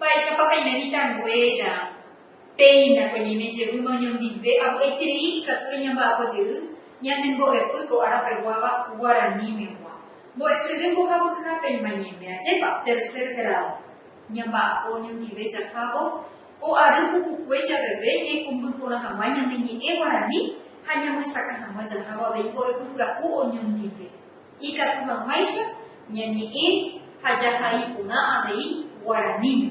Mba'éichapa peime mitãnguéra? Péina ko ñeime jevýma oñondive apo'aiterei ikatúre ñamba'apo jey ñane mbo'epy ko ára peguáva guaranímegua. Mbo'esyry mbohapyha péima ñeime, ajépa? Tercer grado. Ñamba'apo oñondive jahávo ko ary pukukue javeve ñaikũmby porã hag̃ua ñane ñe'ẽ guarani ha ñamyesakã hag̃ua jahávo avei mbo'epy pyahu oñondive. Ikatu hag̃uáicha ñañe'ẽ ha jahai porã avei guaraníme.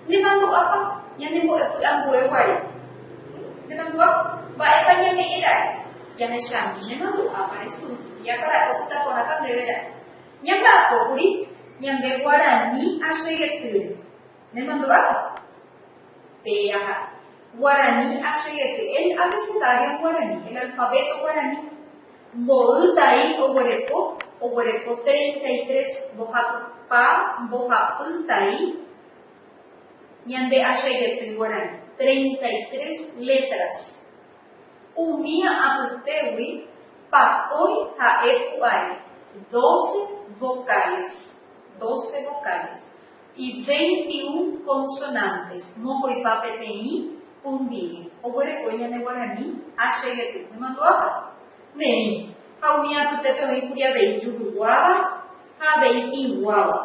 Nemandu'ápa ñanembo'epy ambue guare? Nemandu'a? Mba'épa ñame'ẽ ra'e? Jahechami nemandu'ápa restudiápa ra'e opyta porãta ndéve ra'e. Ñamba'apókuri ñande guarani achegetýre. Nemandu'áta. Tee aha. Guarani achegete el abecedario guarani, el alfabeto guarani. Mboy tai oguereko, oguereko treinta y tres mbohapypa, mbohapy tai ñande achegety guarani. Treinta y tres letras. Umi apytégui pakói ha'e pu'ae doce vocales, doce vocales. Iveintiun consonantes, mokoipa peteĩ pundíe, oguereko ñane guarani a che gety nemandu'áva, neĩ, ha umi apytépe oĩ kuri avei juruguáva ha avei tĩguáva.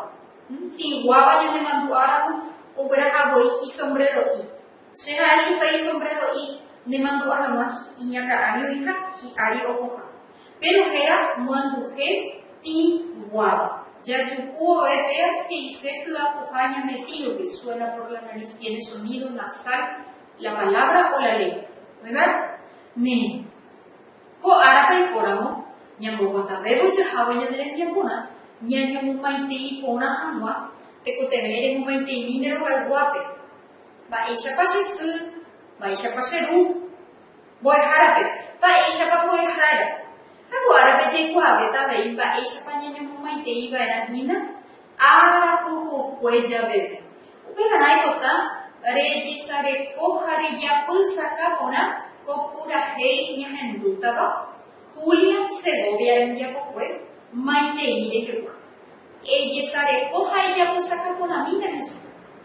Tĩguáva ñane mandu'a ramo ogueraha voi isombrero'i. Che ha'e chupe isombrero'i nemandu'a hag̃ua hi'i iñakã'ári oĩha, hi'ári ohoha. Péro héra moanduje tĩ guáva. Jajuhu ove péva he'ise hyapuha ñande tírope, suena por la nariz tiene sonido nasal la palabra o la letra. Oĩva ne ko árape ipóramo ñamboguatavévo jahávo ñande rembiaporã, ñañomomaitei porã hag̃ua tekotevẽ remomaiteimi nde rogayguápe, Mba'éichapa che sy? Mba'éichapa che ru? mbo'ehárape mba'éichapa ko'ẽva'erã, ha ko árape jaikuaavéta avei mba'éichapa ñañomomaiteiva'erã hína ára pukukue javeve. Upevarã ipotã rejesareko ha rejapysaka porã ko purahéi ñahendútava Julia Segovia rembiapokue maitei rehegua. Ejesareko ha ejapysaka porãmína hese.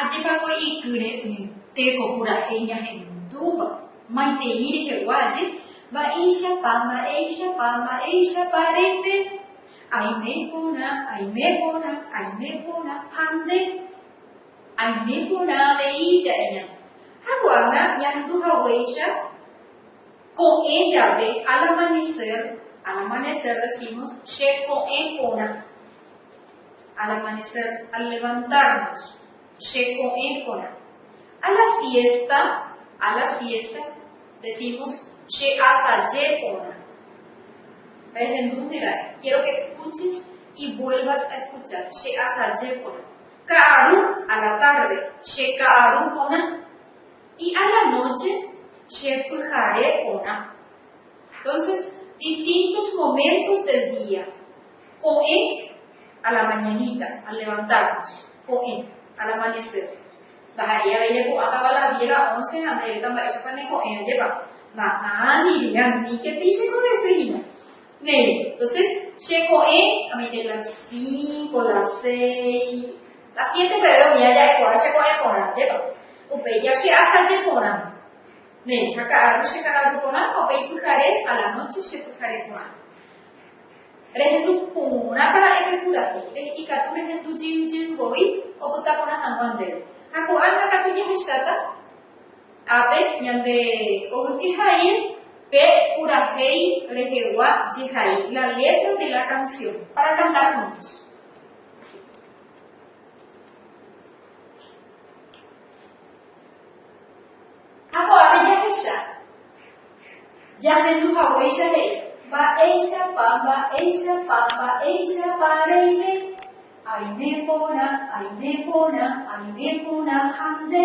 Ajépa ko ikýre umi téko purahéi ñahendúva, maitei rehegua aje, Mba'éichapa, mba'éichapa, mba'éichapa reime? Aime porã, aime porã, aime porã ha nde. Aime porã avei jaheña. Ha ko'ág̃a ñahandu haguéicha ko'ẽ jave al amanecer, al amanecer decimos che ko'ẽ porã, al amanecer, al levantarnos, che ko'ẽ porã. A la siesta, a la siesta decimos che asaje porã. Rehendúne ra'e, quiero que escuches y vuelvas a escuchar, che asaje porã. Ka'aru a la tárde, che ka'aru porã. Y a la nóche, che pyhare porã. Entónses, distintos moméntos del día. Ko'ẽ a la mañanita, al levantármos. Ko'ẽ, al amanecer. Ndaha'éi avei repu'ãtava las diez, las once ha ndaivéta mba'éichapa neko'ẽva jepáma. Na'ã, diría, ni que tei che ko desehína. Néi, entonces, che ko'ẽ, amoite la cinco, la seis, la siete peve umi aja'e porã che ko'ẽ porã, ndépa? Upéi ja che asaje porã. Néi, ha ka'arru che ka'arru porã, ha upéi pyhare a la noche che pyhare porã. Rehendu porã para epe pura he'i, re, ikatu rehendu jey jey voi opyta porã hag̃ua ndéve. Ha ko'ág̃a katu jahecháta. Ápe, ñande ogyke haíl pe purahéi rehegua jehai la letra de la canción. Para cantar juntos. Ha ko'ápe jahecha, jahendu haguéicha he'i. Mba'éichapa, mba'éichapa, mba'éichapa reime, aime porã, aime porã, aime porã ha nde.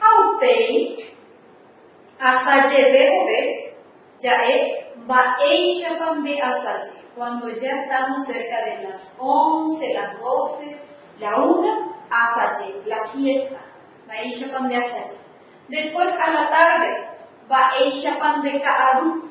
Ha upéi asajeve vove ja'e mba'éichapa nde asaje, cuando ya estamos cerca de las once, las doce, la una, asaje, la siesta, mba'éichapa nde asaje. Después a la tarde, mba'éichapa nde ka'aru.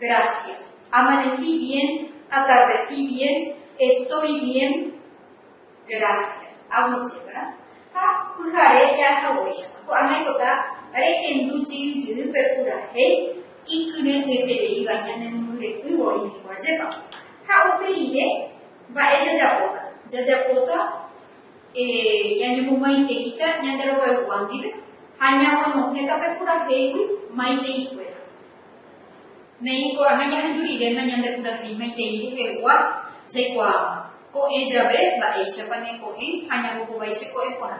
Gracias. Amaneci bien, atardeci bien, estoy bien, gracias. Aguije, ¿verdad? Ha pyhare jaahaguéichapa. Ko'ág̃a oipota rehendu jey jeyýpe purahéi ikyre'ỹetereíva ñanemombyre'ỹvo oimeko ajépa. Ha upe rire mba'e jajapóta? Jajapóta ñañemomaiteíta Ñanderuaigua ndive ha ñamonohẽta pe purahéigui maitei kuéra. Néi ko'ág̃a ñahendu rire nañandepurahéimaitei mbuhegua jaikuaáva, ko'ẽ jave mba'éichapa neko'ẽ ha ñambohovái che ko'ẽ porã,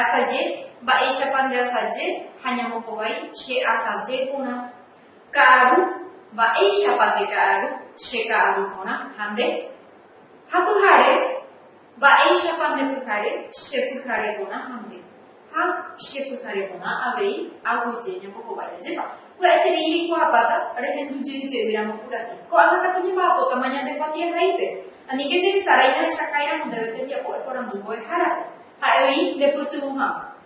asaje mba'éichapa ndeasaje ha ñambohovái che asaje porã, ka'aru mba'éichapa ndeka'aru che ka'aru porã ha nde ha pyhare Mba'éichapa nde pyhare che pyhare porã ha nde ha che pyhare porã avei aguyje ñambohovái ajépa. Pya'eterei reikuaapáta rehendu jey jey ramo purahéi. Ko'ág̃a katu ñemba'apótama ñande kuatiahaípe. Aníke nde hesarái nahesakãi ramo ndéve tembiapo eporandu mbo'ehárape. Ha'e oĩ nde pytyvõ hag̃ua.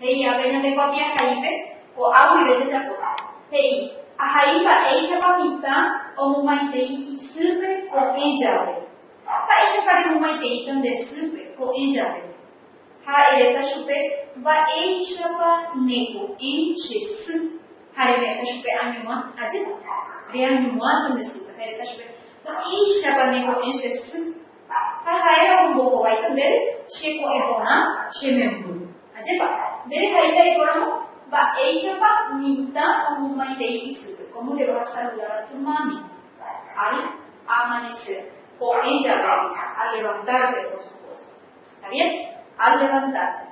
He'i ape ñande kuatiahaípe, ko'a guive jajapoha. He'i, Ahai mba'éichapa mitã omumaitei isýpe ko'ẽ jave. Mba'éichapa remumaitei pende sýpe ko'ẽ jave? Ha eréta chupe, Mba'éichapa neko'ẽ che sy. Ha reme'ẽta chupe, Añuã, ajépa. Reañuã pende sýpe. Ha eréta chupe, Mba'éichapa neko'ẽ che sy. Ha ha'éramo ombohováita ndéve che ko'ẽ porã, che memby. Ajépa, nde rehaíta rekoramo mba'éichapa mitã omomaitei isýpe, kómo nde ohasaludáva tu mami, al amanecer, ko'ẽ jave, al levantarte, por supuesto. Está bien? Al levantarte.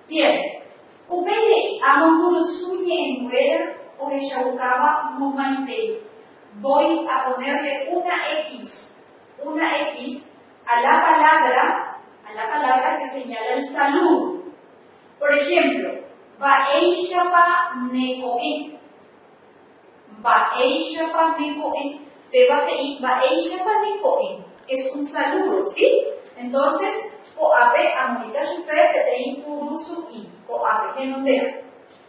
Bien. Upéi he'i, Amo mburusu ñe'ẽnguéra ohechaukáva momaitei. Voy a ponerle una X. una X a la palabra a la palabra que señala el saludo. Por ejemplo, Mba'éichapa ne ko'ẽ. Mba'éichapa ne ko'ẽ. Péva he'i Mba'éichapa ne ko'ẽ. Es un saludo, ¿sí? Entonces, ko'ápe amoĩta chupe peteĩ puru su'i, ko'ápe, henondéva.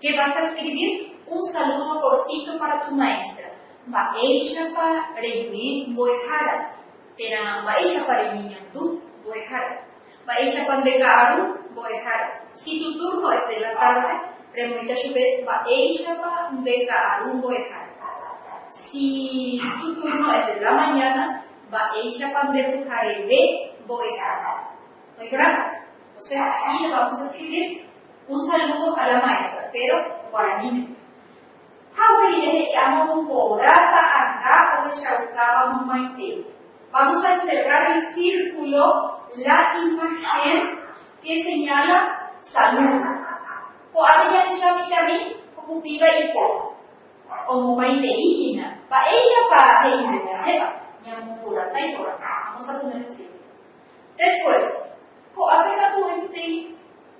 Che vas a escribir un saludo cortito para tu maestra, mba'éichapa rejuĩ mbo'ehára, térã mba'éichapa reñeñandu mbo'ehára, mba'éichapa nde ka'aru mbo'ehára. Si tu turno es de la tarde, remoĩta chupe mba'éichapa nde ka'aru mbo'ehára. Si tu turno es de la mañana, mba'éichapa nde pyhareve mbo'ehára. Oĩporãva? Entonces, aquí lo vamos a escribir. Un saludo a la maestra, péro guaraníme. Ha upérire he'i amo tuporã ta'anga ohechaukáva momaite, Vamos a encerrar en círculo la imagen que señala Salud. Ko'ápe jahecha mitãmi ko kupíva ipo omomaitei hína mba'éichapa he'ívo ñandéva, ñamoporãta iporãha. Vamos a poner en círculo. Después, ko'ápe katu oĩkutei.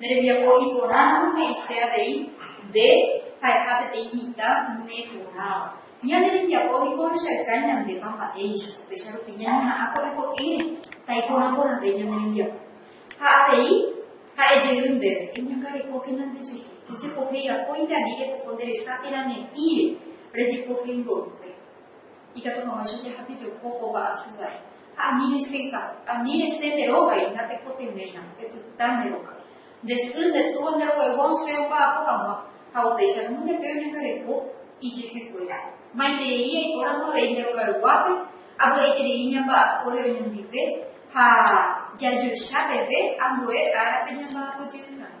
Ne rembiapo iporãramo he'ise avei nde ha'eha peteĩ mitã ne porãva. Ñane rembiapo niko ohechauka ñandépa mba'éicha, upéicha rupi ñañeha'ã ko'ẽ ko'ẽre taiporã porãve ñane rembiapo. Ha avei ha'e jey ndéve, Eñangarekókena nde jehe, rejepohéi akóinte ani repoko nde resa térã ne'ĩre, rejepohéi mboyve. Ikatu hag̃uáicha jahapejoko kóva asyvai, ha ani resẽta, ani resẽ nde rógai, natekotevẽiramo, epyta nde róga. Nde sy, nde túa, nde roguegua osẽ omba'apo hag̃ua, ha upéicha roñohete oñangareko ijehekuéra. Maiterei aipóramo avei nde rogayguápe, avy'aiterei ñamba'apóre oñondive ha jajoecha peve ambue árape ñamba'apojey hag̃ua.